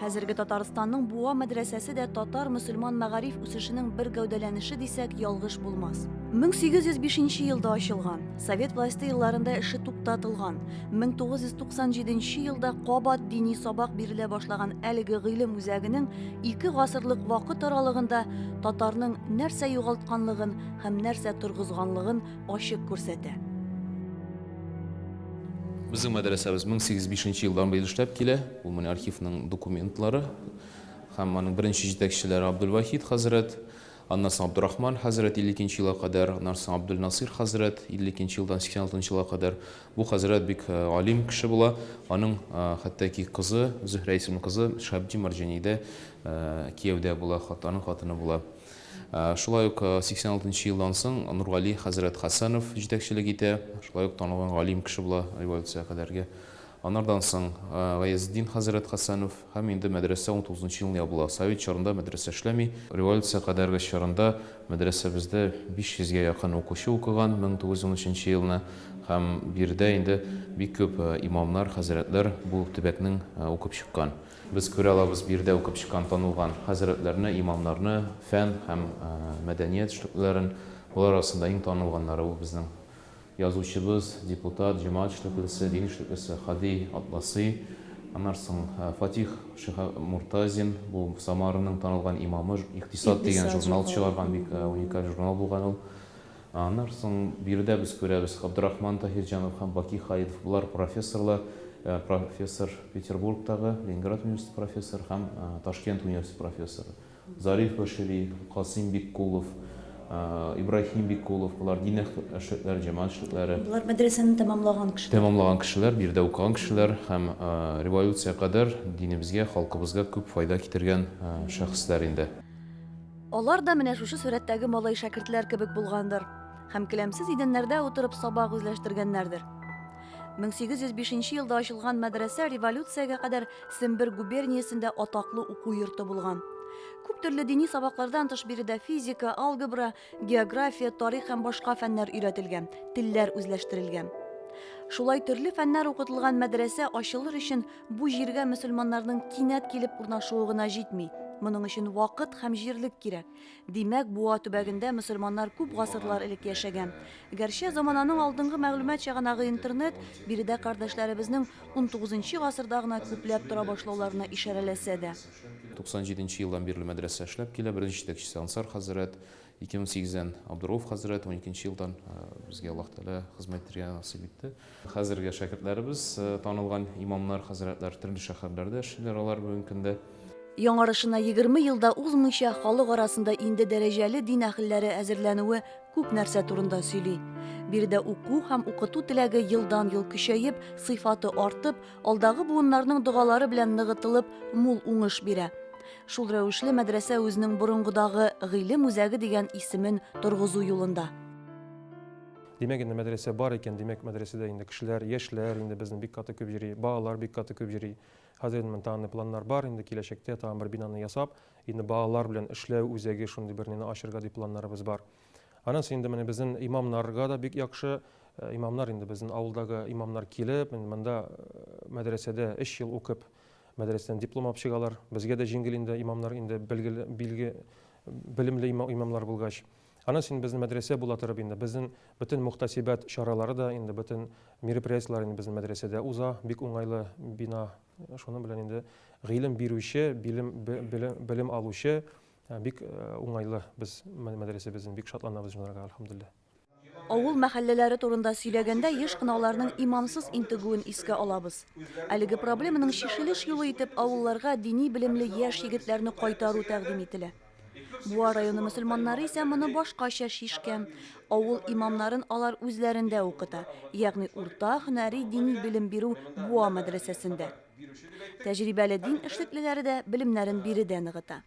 Хәзерге Татарстанның Буа мәдрәсәсе дә татар-мөселман мәгариф үсешенең бер гәүдәләнеше дисәк, ялгыш булмас. 1805 елда ачылган, совет власте елларында эше туктатылган, 1997 елда кабат дини сабак бирелә башлаган әлеге гыйлем үзәгенең ике гасырлык вакыт аралыгында татарның нәрсә югалтканлыгын һәм нәрсә торгызганлыгын ачык күрсәтә. Безнең мәдрәсәбез 1805 елдан быел эшләп килә. Бу менә архивның документлары һәм аның беренче җитәкчеләре Абдулвахит хәзрәт, аннан соң Абдурахман хәзрәт 52 нче елга кадәр, аннан соң Абдулнасыйр хәзрәт 52 нче елдан 86 нчы елга кадәр. Бу хәзрәт бик галим кеше була, аның хәтта ки кызы, Зөһрә исемле кызы Шәһабетдин Марҗаниидә кияүдә була, аның хатыны була. Шулай ук 86 нчы елдан соң Нургали хәзрәт Хәсәнов җитәкчелек итә, шулай ук танылган галим кеше була революциягә кадәрге. Анардан соң Гаязетдин хәзрәт Хәсәнов һәм инде мәдрәсә унтугызынчы елны ябыла. Совет чорында мәдрәсә эшләми. Революция кадәрге чорында мәдрәсәбездә биш йөзгә якын укучы укыган, мең тугыз йөз унөченче елны, һәм биредә инде бик күп имамнар, хәзрәтләр бу төбәкнең укып чыккан. Без күрә алабыз биредә укып чыккан танылган хәзрәтләрне, имамнарны, фән һәм мәдәният эшлеклеләрен. Болар арасында иң танылганнары ул безнең Язучыбыз, депутат Җомат Шлепельсе, Дин Шлепельсе, Һади Атласи, аннан соң Фатих Шиһабмуртазин, бу Самараның танылган имамы, Икътисад дигән журнал чыгарган, бик уникаль журнал булган ул. Аннан соң биредә без күрәбез, Габдрахман Таһирҗанов һәм Баки Халидов, болар профессорлар, профессор Петербургтагы, Ленинград университеты профессоры һәм Ташкент университеты профессоры. Зариф Башири, Касыйм Биккулов, Ибраһим Биккулов, болар дин эшлекләре, җәмәгать эшлекләре. Болар мәдрәсәне тәмамлаган кешеләр. Тәмамлаган кешеләр, бу җирдә укыган кешеләр һәм революция кадәр динебезгә, халкыбызга күп файда китергән шәхесләр инде. Алар да менә шушы сурәттәге малай-шәкертләр кебек булгандыр һәм келәмсез идәннәрдә утырып сабак үзләштергәннәрдер. 1805 елда ачылган мәдрәсә революциягә кадәр Сембер губерниясендә атаклы уку йорты булган. Күп төрле дини сабаклардан тыш биредә физика, алгебра, география, тарих һәм башка фәннәр өйрәтелгән, телләр үзләштерелгән. Шулай төрле фәннәр укытылган мәдрәсә ачылыр өчен бу җиргә мөселманнарның кинәт килеп урнашуы гына җитми. Моның өчен вакыт һәм җирлек кирәк. Димәк, Буа төбәгендә мөселманнар күп гасырлар элек яшәгән. Гәрчә замананың алдынгы мәгълүмат чыганагы интернет биредә кардәшләребезнең унтугызынчы гасырда гына күпләп тора башлауларына ишарәләсә дә. 97 нче елдан бирле мәдрәсә эшләп килә. Беренче җитәкчесе Ансар хәзрәт, 2008 дән Абдурауф хәзрәт, уникенче елдан безгә Аллаһ Тәгалә хезмәт итәргә насыйп итте. Хәзерге шәкертләребез, танылган имамнар, хәзрәтләр төрле шәһәрләрдә эшлиләр алар бүгенге көндә. Яңарышына егерме ел да узмыйча, халык арасында инде дәрәҗәле дин әһелләре әзерләнүе күп нәрсә турында сөйли. Биредә уку һәм укыту теләге елдан-ел көчәеп, сыйфаты артып, алдагы буыннарның догалары белән ныгытылып, мул уңыш бирә. Шул рәвешле мәдрәсә үзенең борынгыдагы Гыйлем үзәге дигән исемен торгызу юлында. Димәк инде мәдрәсә бар икән, димәк мәдрәсәдә инде кешеләр, яшьләр инде безнең бик каты күп йөри, балалар бик каты күп йөри. Хәзер инде тагын планнар бар, инде киләчәктә тагын бер бинаны ясап, инде балалар белән эшләү үзәге шундый бернене ачырга дип планнарыбыз бар. Аннан соң инде менә безнең имамнарга да бик яхшы, э, имамнар инде безнең авылдагы имамнар килеп, инде монда э, мәдрәсәдә 3 ел укып, мәдрәсәдән диплом алып чыгалар. Безгә дә җиңел инде имамнар инде белгеле, билге белемле имамнар булгач. Ана син безнең мәдрәсә була торып инде безнең бөтен мөхтәсибәт чаралары да инде бөтен мероприятиеләр инде безнең мәдрәсәдә уза, бик уңайлы бина, шуның белән инде гыйлем бирүче, билем, бе, белем алучы бик уңайлы без мәдрәсәбезнең, бик шатланабыз җанарга, әлхәмдүлилләһ. Авыл мәхәлләләре турында сөйләгәндә еш кына аларның имамсыз интегүен искә алабыз. Әлеге проблеманың чишелеш юлы итеп авылларга дини белемле яшь егетләрне кайтару тәкъдим ителә. Буа районы мөселманнары исә моны башкача шишкән. Авыл имамнарын алар үзләрендә укыта, ягъни урта һөнәри дини белем бирү Буа мәдрәсәсендә. Тәҗрибәле дин эшлеклеләре дә белемнәрен биредә ныгыта.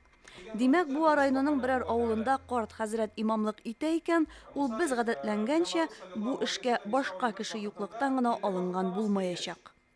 Димәк, Буа районының берәр авылында карт хәзрәт имамлык итә икән, ул без гадәтләнгәнчә бу эшкә башка кеше юклыктан гына алынган булмаячак.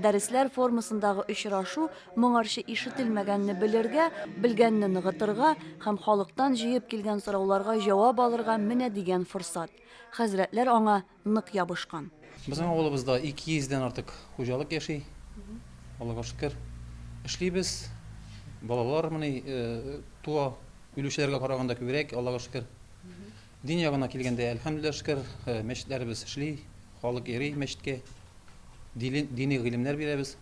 Дәресләр формасындагы очрашу моңарчы ишетелмәгәнне белергә, белгәнне ныгытырга һәм халыктан җыеп килгән сорауларга җавап алырга менә дигән форсат. Хәзрәтләр аңа нык ябышкан. Безнең авылыбызда 200 дән артык хуҗалык яши. Аллага шөкер, эшлибез. Балалар менә туа, үлүчеләргә караганда күбрәк, Аллага шөкер. Дин ягына килгәндә, әлхәмдүлилләһ шөкер, мәчетләребез эшли. Халык йөри мәчеткә, дили, дини гыйлемнәр бирәбез.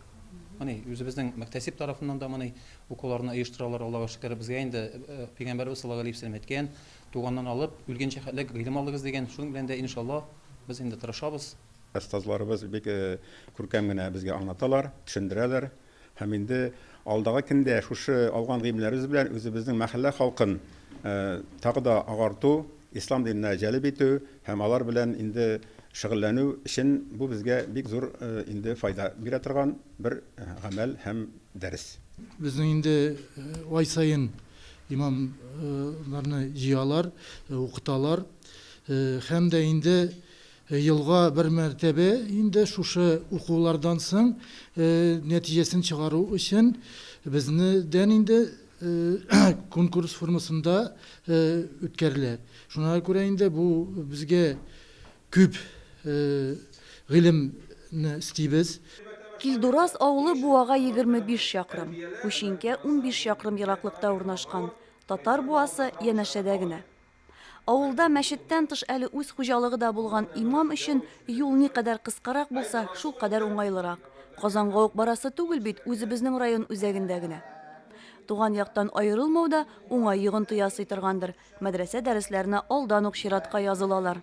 Моны үзебезнең мөхтәсиб тарафыннан да моны укуларны оештыралар, Аллага шөкер. Безгә инде э, Пәйгамбәрбез саллаллаһу алейһи вәсәлләм әйткән, туганнан алып, үлгәнчә хәтлек гыйлем алыгыз дигән. Шуның белән дә, иншалла, без инде тырышабыз. Остазларыбыз бик э, күркәм генә безгә аңлаталар, төшендерәләр. Һәм инде алдагы көндә шушы алган гыйлемнәребез белән үзебезнең мәхәллә халкын тагы да агарту, ислам диненә җәлеп итү һәм алар белән инде шөгыльләнү өчен бу безгә бик зур инде файда бирә торган бер гамәл һәм дәрес. Безнең инде ай саен имамнарны җыялар, укыталар һәм дә инде Елга бер мәртәбә инде шушы укулардан соң нәтиҗәсен чыгару өчен безнедән инде конкурс формасында үткәрелә. Шуңа күрә инде бу безгә күп гыйлемне эстибез. Килдураз авылы Буага егерме биш чакрым, Күчинкә унбиш чакрым ераклыкта урнашкан. Татар Буасы янәшәдә генә. Авылда мәчеттән тыш әле үз хуҗалыгы да булган имам өчен юл никадәр кыскарак булса, шул кадәр уңайлырак. Казанга ук барасы түгел бит, үзебезнең район үзәгендә генә. Туган яктан аерылмау да уңай йогынты ясый торгандыр, мәдрәсә дәресләренә алдан ук чиратка язылалар.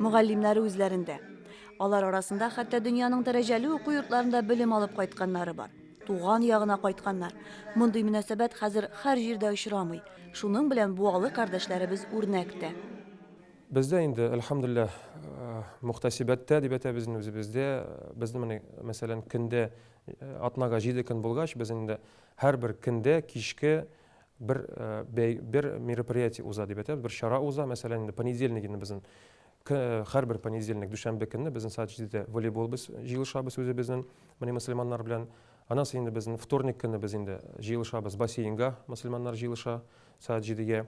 Мөгаллимнәре үзләрендә. Алар арасында хәтта дөньяның дәрәҗәле уку йортларында белем алып кайтканнары бар. Туган ягына кайтканнар. Мондый мөнәсәбәт хәзер һәр җирдә очрамый. Шуның белән буалы кардәшләребез үрнәк тә. Бездә инде, әлхәмдүлилләһ, э, мөхтәсибәттә дип әйтәбез инде үзебездә. Безне менә, мәсәлән, көндә э, атнага җиде көн булгач, без инде һәрбер көндә кичке бер бәй бер мероприятие уза дип әйтәбез, бер чара уза, мәсәлән, инде понедельник инде безнең һәрбер понедельник, дүшәмбе көнне безнең сәгать җидедә волейбол без җыелышабыз үзебезнең менә мөселманнар белән. Аннан соң инде безнең вторник көнне без инде җыелышабыз бассейнга, мөселманнар җыелыша сәгать җидегә.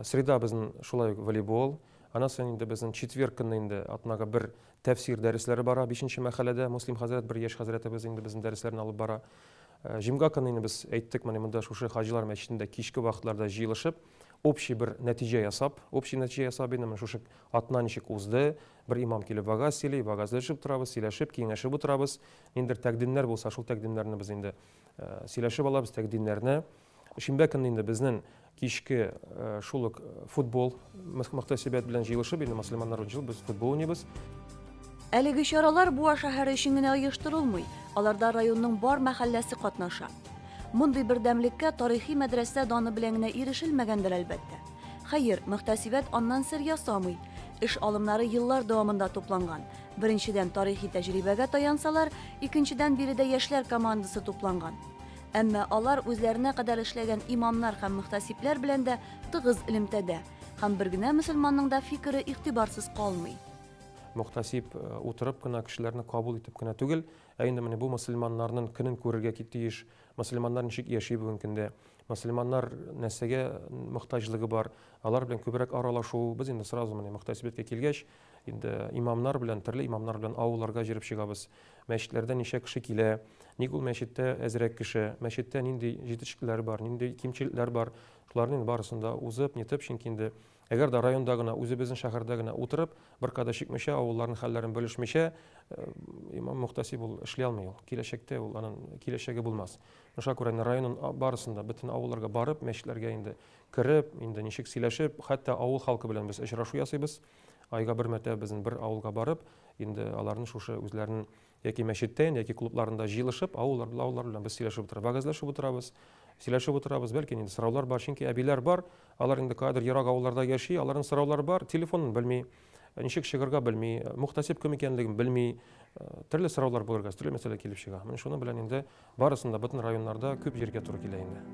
Среда безнең шулай ук волейбол. Аннан соң инде безнең четверг көнне инде атнага бер тәфсир дәресләре бара, бишенче мәхәлләдә муслим хәзрәт, бер яшь хәзрәтебез инде безнең дәресләрне алып бара. Җомга көнне без әйттек, менә монда шушы Хаҗилар мәчетендә кичке вакытларда җыелышып, общий бер нәтиҗә ясап, общий нәтиҗә ясап инде менә шушы атна ничек узды, бер имам килеп вагаз сөйли, вагазләшеп утырабыз, сөйләшеп, киңәшеп утырабыз. Ниндидер тәкъдимнәр булса, шул тәкъдимнәрне без инде сөйләшеп алабыз, тәкъдимнәрне. Шимбә көнне инде безнең кичке шул ук футбол мөхтәсибәт белән җыелышып, инде мөселманнар өчен без футбол уйныйбыз. Әлеге чаралар Буа шәһәре өчен генә оештырылмый, аларда районның бар мәхәлләсе катнаша. Мондый бердәмлеккә тарихи мәдрәсә даны белән генә ирешелмәгәндер, әлбәттә. Хәер, мөхтәсибәт аннан сер ясамый. Эш алымнары еллар дәвамында тупланган. Беренчедән, тарихи тәҗрибәгә таян-салар, икенчедән, биредә яшьләр командасы тупланган. Әмма алар үзләренә кадәр эшләгән имамнар һәм мөхтәсибләр белән дә тыгыз элемтәдә, һәм бер генә мөселманның да фикере игътибарсыз калмый. Мөхтәсиб э, утырып кына, кешеләрне кабул итеп кенә түгел, ә инде менә бу мөселманнарның көнен күрергә тиеш, мөселманнар ничек яши бүгенге көндә, мөселманнар нәрсәгә мөхтаҗлыгы бар, алар белән күбрәк аралашу, без инде сразу менә мөхтәсиблеккә килгәч, Инде имамнар белән, төрле имамнар белән авылларга җөреп чыгабыз. Мәчетләрдә ничә кеше килә, ник ул мәчеттә әзрәк кеше, мәчеттә нинди җитешкеләр бар, нинди кимчелекләр бар, шуларны инде барысын да узып, нитеп, чөнки инде әгәр дә районда гына, үзебезнең шәһәрдә генә утырып, бер кадәр чикмичә, авылларның хәлләрен белешмичә, э, имам мөхтәсиб ул эшли алмый ул. Киләчәктә ул анын киләчәге булмас. Шуңа күрә инде районын барысын да, бөтен авылларга барып, мәчетләргә инде кереп, инде ничек сөйләшеп, хәтта авыл халкы белән без очрашу ясыйбыз. Айга бер мәртәбә безнең бер авылга барып, инде аларны шушы үзләренең яки мәчеттән, яки клубларында җыелышып, авыллар белән авыллар белән без сөйләшеп утырабыз, вәгазьләшеп утырабыз, сөйләшеп утырабыз, бәлки инде сораулар бар, чөнки әбиләр бар, алар инде кадер ерак авылларда яши, аларның сораулары бар, телефонын белми, ничек чыгарга белми, мөхтәсиб кем икәнлеген белми, төрле сораулар булырга, төрле мәсьәлә килеп чыга. Менә шуның белән инде Барысын да, бөтен районнарда күп җиргә туры килә инде.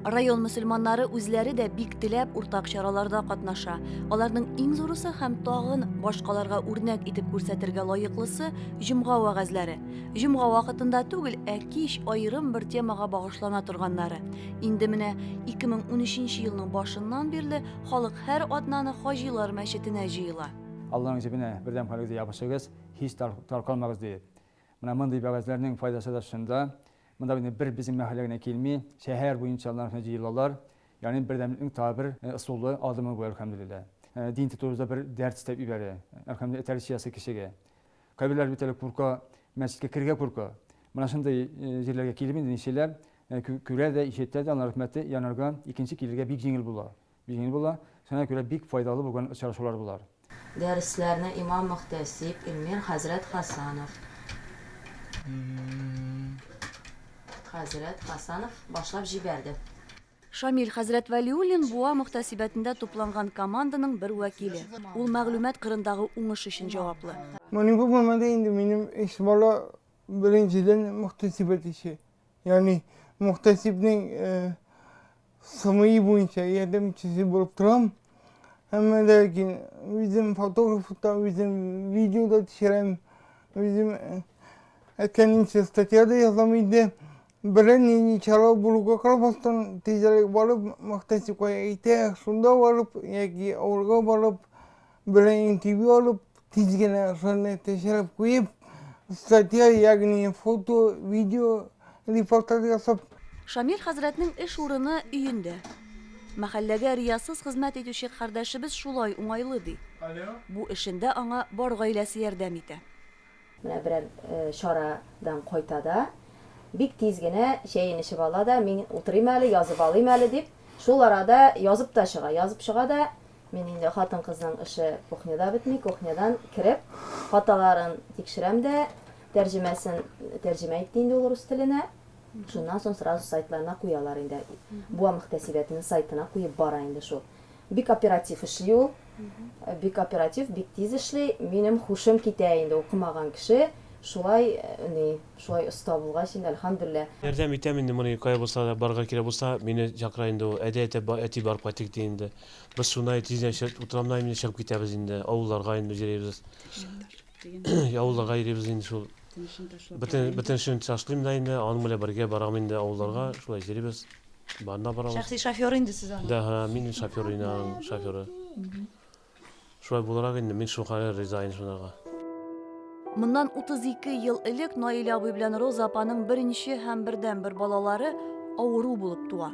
Район мөселманнары үзләре дә бик теләп уртак чараларда катнаша. Аларның иң зурысы һәм тагын башкаларга үрнәк итеп күрсәтергә лаеклысы, җомга вәгазьләре. Җомга вакытында түгел, ә кич аерым бер темага багышлана торганнары. Инде менә 2013 елның башыннан бирле халык һәр атнаны Хаҗилар мәчетенә җыела. Алланың җебенә бердәм хәлегезгә ябышыгыз, һич таркалмагыз, диеп. Менә мондый вәгазьләрнең файдасы да шунда, монда инде бер безнең мәхәллә генә килми, шәһәр буенча алар һәм җыелалар, ягъни бердәмлекнең тагы бер ысулы, адымы бу, әлхәмдүлилләһ. Дин тотуыбызда бер дәрт өстәп ибәрә, әлхәмдүлилләһ, тәрбиячесе кешегә. Кайберләр бит әле курка, мәчеткә керергә курка. Менә шундый җирләргә килеп инде ничәләр күрә дә, ишәтә дә, аның рәхмәте янарга, икенче килергә бик җиңел була. Җиңел була, шуңа күрә бик файдалы булган очрашулар болар. Дәресләрне имам-мөхтәсиб Илмир хәзрәт Хәсанов хәзрәт Хәсанов башлап җибәрде. Шамил хәзрәт Вәлиуллин Буа мөхтәсибәтендә тупланган команданың бер вәкиле. Ул мәгълүмат кырындагы уңыш өчен җаваплы. Моның булмады инде, минем өч бала беренчедән мөхтәсибәт эше, ягъни мөхтәсибнең Сыны буенча ярдәмчесе булып торам. Әмма ләкин үзем фотограф та, үзем видео да төшерәм. Үзем әкәнинчә статья да язам инде. Берән ни чара булуга карамастан, тизрәк барып, Мактасюкка әйтә, шунда барып, яки авылга барып, Белән интервью алып, тиз генә шуны тешереп куеп, статья, ягъни фото, видео, репортаж ясап. Шамил хәзрәтнең эш урыны, өендә. Мәхәлләгә риясыз хезмәт итүче кардәшебез шулай уңайлы, ди. Бу эшендә аңа бар гаиләсе ярдәм итә. Менә берәр чара дан кайта да, бик тиз генә чәен эчеп ала да, мин утырыйм әле, язып алыйм әле дип, шул арада язып та чыга. Язып чыга да, мин инде хатын-кызның эше кухняда бетми, кухнядан кереп, хаталарын тикшерәм дә, тәрҗемәсен тәрҗемә итте инде ул рус теленә, шуннан соң сразу сайтларына куялар инде. Буа мөхтәсибәтенең сайтына куеп бара инде шул. Бик оператив эшли ул. Бик оператив, бик тиз эшли. Минем хушым китә инде, укымаган кеше шулай ни, шулай оста булгач инде, әлхәмдүллә. Ярдәм итәм инде, моны кая булса да барырга кирәк булса, мине чакыра инде ул. Әйдә, әтә, әти, барып кайтыйк, ди инде. Без шунай тиз генә чыгып, утрамнай инде, чыгып китәбез инде, авылларга инде җөрибез. Ишек таш. Авылда гайрибез инде шул. Бөтеншен ташлыйм да инде, аның белән бергә барам инде авылларга, шулай йөрибез. Барына барабыз. Шәхси шофер инде сез аны. Да, һа, мин шофер инде аның шоферы. Шулай буларак инде мин шул хәлгә риза инде шунарга. Моннан 32 ел элек Наилә абый белән Роза апаның беренче һәм бердәнбер балалары авыру булып туа.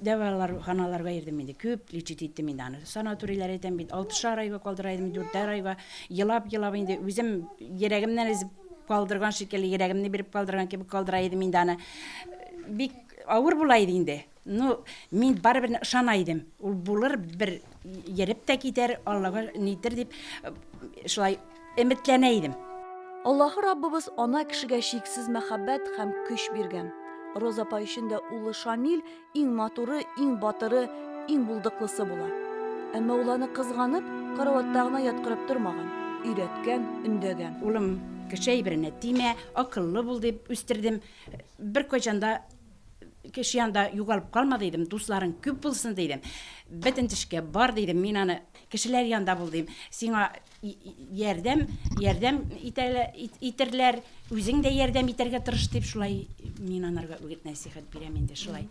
Дәвалар ханаларга йөрдем инде, күп лечить иттем инде аны. Санаторийлар әйтәм бит, алтышар айга калдыра идем, дүртәр айга. Елап, елап инде үзем йөрәгемнән өзеп калдырган шикелле, йөрәгемне биреп калдырган кебек калдыра идем инде аны. Бик авыр була иде инде. Ну, мин барыбер ышана идем. Ул булыр, бер йөреп тә китәр, Аллага нитер дип шулай. Өметләнә идем. Аллаһы Раббыбыз ана кешегә чиксез мәхәббәт һәм көч биргән. Роза апа өчен дә улы Шамил иң матуры, иң батыры, иң булдыклысы була. Әмма ул аны кызганып, караватта гына яткырып тормаган, өйрәткән, өндәгән. Улым, кеше әйберенә тимә, акыллы бул, дип үстердем. Беркайчан да кеше янында югалып калма, дидем, дусларың күп булсын, дидем. Бөтен төшкә бар, дидем, мин аны кешеләр янында бул, дим. Сиңа ярдәм ярдәм итәрләр, үзең дә ярдәм итәргә тырыш дип шулай мин анарга үгет нәсихәт бирәм инде шулай.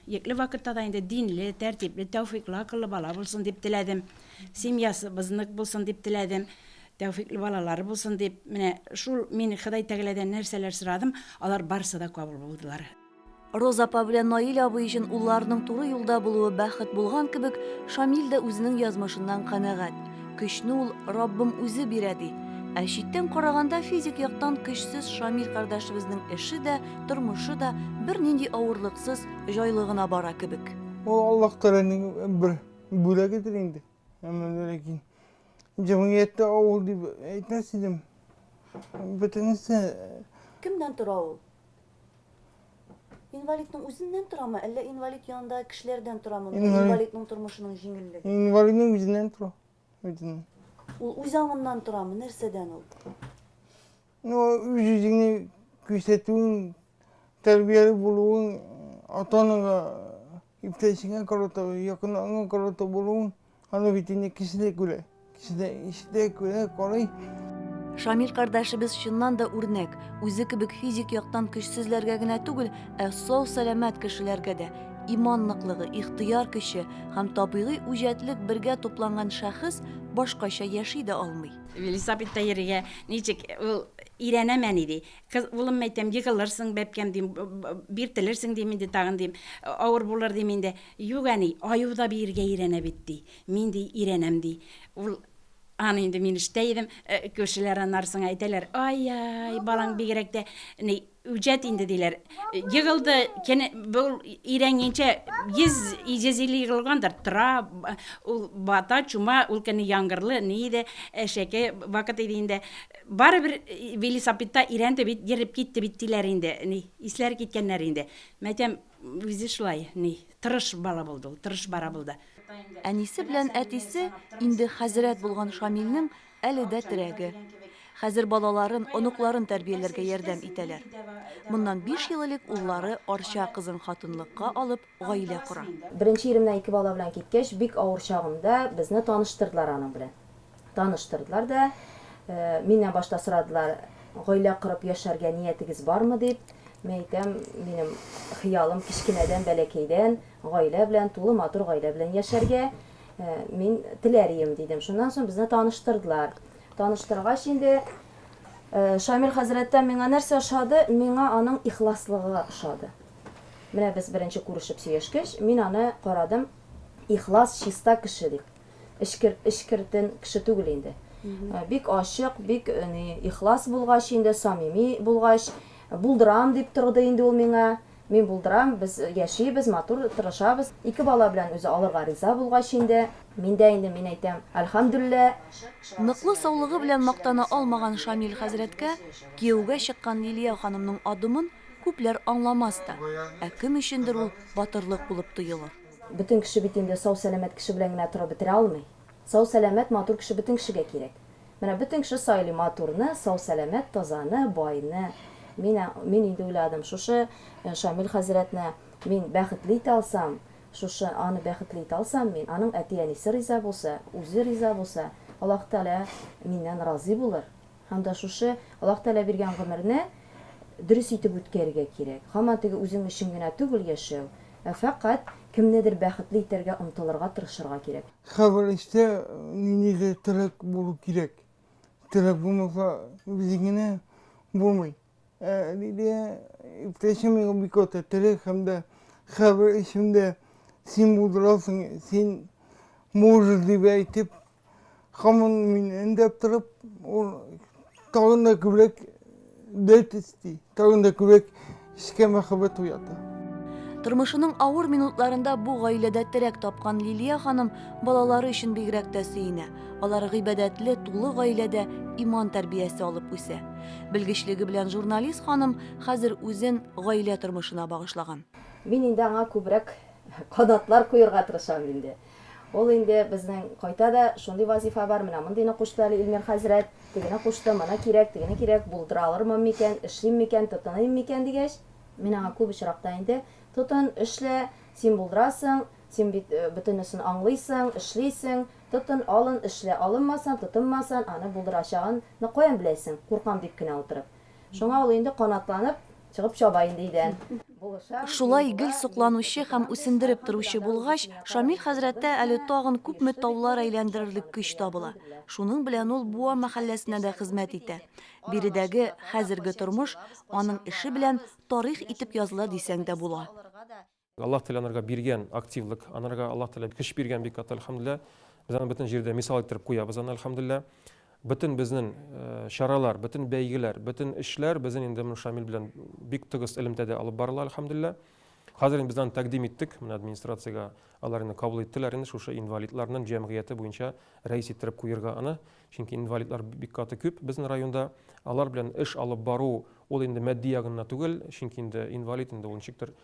Екле вакытта да инде динле, тәртипле, тәүфиклы, акыллы бала булсын дип теләдем. Семьясы бызнык булсын дип теләдем. Тәүфиклы балалары булсын дип, менә шул мин Ходай Тәгаләдән нәрсәләр сорадым, алар барысы да кабул булдылар. Роза апа белән Наил абый өчен улларының туры юлда булуы бәхет булган кебек, Шамил дә үзенең язмышыннан канәгать. Көчне ул Раббым үзе бирә ди. Ә читтән караганда физик яктан көчсез Шамил кардәшебезнең эше дә, тормышы да бернинди авырлыксыз, җайлы гына бара кебек. Ул Аллаһ Тәгаләнең бер бүләгедер инде. Әмма ләкин җәмгыятьтә авыл дип әйтмәс идем. Бөтенесе Кемнән тора ул? Инвалидның үзеннән торамы, әллә инвалид янында кешеләрдән торамы? Инвалид. Инвалидның тормышының җиңеллеге. Инвалидның үзеннән тора. Үзеннән. Ул үз аңыннан торамы, нәрсәдән ул? Ну, үз үзеңне күрсәтүең, тәрбияле булуың, ата-анага Иптәшеңә карата, якыныңа карата булуың, аны бит инде кеше дә күрә. Кеше дә ишетә, күрә, карый. Шамил кардәшебез чыннан да үрнәк. Үзе кебек физик яктан көчсезләргә генә түгел, ә сау-сәламәт кешеләргә дә иман ныклыгы, ихтыяр көче һәм табигый үҗәтлек бергә тупланган шәхес башкача яши дә алмый. Велосипедта йөрергә ничек? Ул өйрәнәмени ди. Кыз, Улым, мәйтәм, егылырсың, бәбкәм, дим, биртелерсең, дим инде тагын, дим, авыр булыр, дим инде. Юк, әни, аю да биергә өйрәнә бит, ди. Мин, ди, өйрәнәм, ди. Ул, Аны инде мин ишетә идем, күршеләр аннарсың әйтәләр, Ай-яй, балаң бигрәк тә ни, үҗәт инде, диләр. Егылды, кене, бу өйрәнгәнчә 100-150 егылгандыр, тора, ул бата, чума, ул көнне яңгырлы, ни иде, әшәке вакыт иде инде. Барыбер велисапедта өйрәнде бит, йөреп китте бит, диләр инде, ни, исләре киткәннәр инде. Мин әйтәм, үзе шулай, ни, тырыш бала булды ул, тырыш бара булды. Әнисе белән әтисе инде хәзрәт булган Шамилнең әле дә терәге. Хәзер балаларын, оныкларын тәрбияләргә ярдәм итәләр. Моннан биш ел элек уллары Арча кызын хатынлыкка алып, гаилә кора. Беренче иремнән ике бала белән киткәч, бик авыр чагымда безне таныштырдылар аның белән. Таныштырдылар да, миннән башта сорадылар, гаилә корып яшәргә ниятегез бармы дип. Мин әйтәм, минем хыялым кечкенәдән, бәләкәйдән гаилә белән, тулы матур гаилә белән яшәргә мин теләр идем, дидем. Шуннан соң безне таныштырдылар. Таныштыргач инде Шамил хәзрәттән миңа нәрсә ошады? Миңа аның ихласлыгы ошады. Менә без беренче күрешеп сөйләшкәч, мин аны карадым, ихлас, чиста кеше дип. Эчкер, эчкертен кеше түгел инде. Э, бик ачык, бик э, ни, ихлас булгач инде, самими булгач, булдырам дип торды инде ул миңа. Мин булдырам, без э, яшибез, матур тырышабыз. Ике бала белән үзе алырга риза булгач инде, миндә инде мин әйтәм, альхамдулилла. Ныклы саулыгы белән мактана алмаган Шамил хәзрәткә кияүгә чыккан Лилия ханымның адымын Күпләр аңламас та, ә кем өчендер ул батырлык булып тоелыр. Бөтен кеше бит инде сау-сәламәт кеше белән генә торып бетерә алмый. Сау-сәламәт, матур кеше бөтен кешегә кирәк. Менә бөтен кеше сайлый матурны, сау-сәламәт, тазаны, байны. Мин, мин инде уйладым, шушы Шамил хәзрәтне мин бәхетле итә алсам, шушы аны бәхетле итә алсам мин, аның әти-әнисе риза булса, үзе риза булса, Аллаһы Тәгалә миннән разый булыр, Һәм дә шушы Аллаһ Тәгалә биргән гомерне дөрес итеп үткәрергә кирәк. Һаман теге үзең өчен генә түгел яшәү, ә фәкать кемнедер бәхетле итәргә омтылырга, тырышырга кирәк. Һәрбер эштә ниндидер теләк булу кирәк. Теләк булмаса, җиң генә булмый. Ә Лилия иптәшем миңа бик ата, теләк һәм дә һәрбер эшемдә син булдырасың, син можешь дип әйтеп, Хамын мин өндәп торып, ул тагын да күбрәк дәрт исти, тагын да күбрәк эшкә мәхәббәт уята. Тормышының авыр минутларында бу гаиләдә терәк тапкан Лилия ханым балалары өчен бигрәк тә сөенә. Алар гыйбадәтле, тулы гаиләдә иман тәрбиясе алып үсә. Белгечлеге белән журналист ханым хәзер үзен гаилә тормышына багышлаган. Мин инде аңа күбрәк канатлар куерга тырышам инде. Ул инде безнең кайта да, шундый вазифа бар, менә мондыйны кушты әле Илмир хәзрәт, тегене кушты, моны кирәк, тегене кирәк, булдыра алырмын микән, эшлим микән, тотыныйм микән, дигәч, мин аңа күп очракта инде, Тотын, эшлә, син булдырасың, син бит бөтенесен аңлыйсың, эшлисең, тотын, алын, эшлә, алынмасын, тотынмасын, аны булдырачагын ны каян беләсең, куркам дип кенә утырып. Шуңа ул инде канатланып, чыгып чаба инде өйдән. Шулай гел сокланучы һәм үсендереп торучы булгач, Шамил хәзрәттә әле тагын күпме таулар әйләндерерлек көч табыла. Шуның белән ул Буа мәхәлләсенә дә хезмәт итә. Биредәге хәзерге тормыш аның эше белән тарих итеп языла дисәң дә була. Аллаһ Тәгалә анарга биргән активлык, анарга Аллаһ Тәгалә көч биргән бик каты, әлхәмдүлилләһ. Без аны бөтен җирдә мисал иттереп куябыз аны, әлхәмдүлилләһ. Бөтен безнең чаралар, бөтен бәйгеләр, бөтен эшләр безнең инде менә Шамил белән бик тыгыз элемтәдә алып барыла, әлхәмдүлилләһ. Хәзер инде без аны тәкъдим иттек, менә администрациягә алар инде кабул иттеләр инде шушы инвалидларның җәмгыяте буенча рәис иттереп куерга аны. Чөнки инвалидлар бик каты күп безнең районда. Алар белән эш алып бару, ул инде матди ягыннан түгел, чөнки инде инвалид инде ул ничектер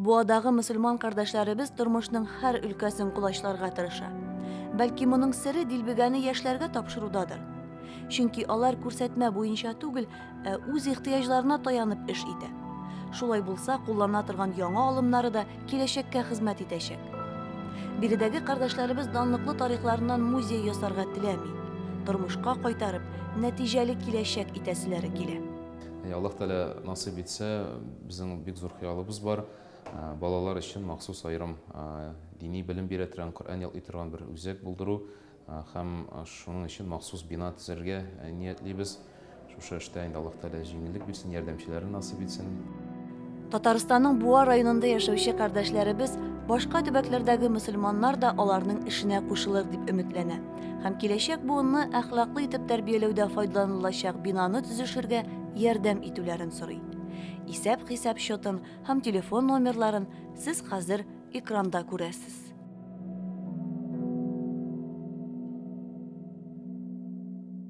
Буадагы мөселман кардәшләребез тормышның һәр өлкәсен колачларга тырыша. Бәлки моның сере дилбегәне яшьләргә тапшырудадыр. Чөнки алар күрсәтмә буенча түгел, ә үз ихтыяҗларына таянып эш итә. Шулай булса, куллана торган яңа алымнары да киләчәккә хезмәт итәчәк. Биредәге кардәшләребез данлыклы тарихларыннан музей ясарга теләми. Тормышка кайтарып, нәтиҗәле киләчәк итәселәре килә. Әй, Аллаһ Тәгалә насыйп итсә, безнең бик зур хыялыбыз бар. Ә, Балалар өчен махсус аерым ә, дини белем бирә торган, Коръән ялый торган бер үзәк булдыру ә, һәм ә, шуның өчен махсус бина төзергә ә, ниятлибез. Шушы эштә инде Аллаһ Тәгалә җиңеллек бирсен, ярдәмчеләрен насыйп итсен. Татарстанның Буа районында яшәүче кардәшләребез башка төбәкләрдәге мөселманнар да аларның эшенә кушылыр дип өметләнә һәм киләчәк буынны әхлаклы итеп тәрбияләүдә файдаланылачак бинаны төзешергә ярдәм итүләрен сорый. Исәп-хисап счетын һәм телефон номерларын сез хәзер экранда күрәсез.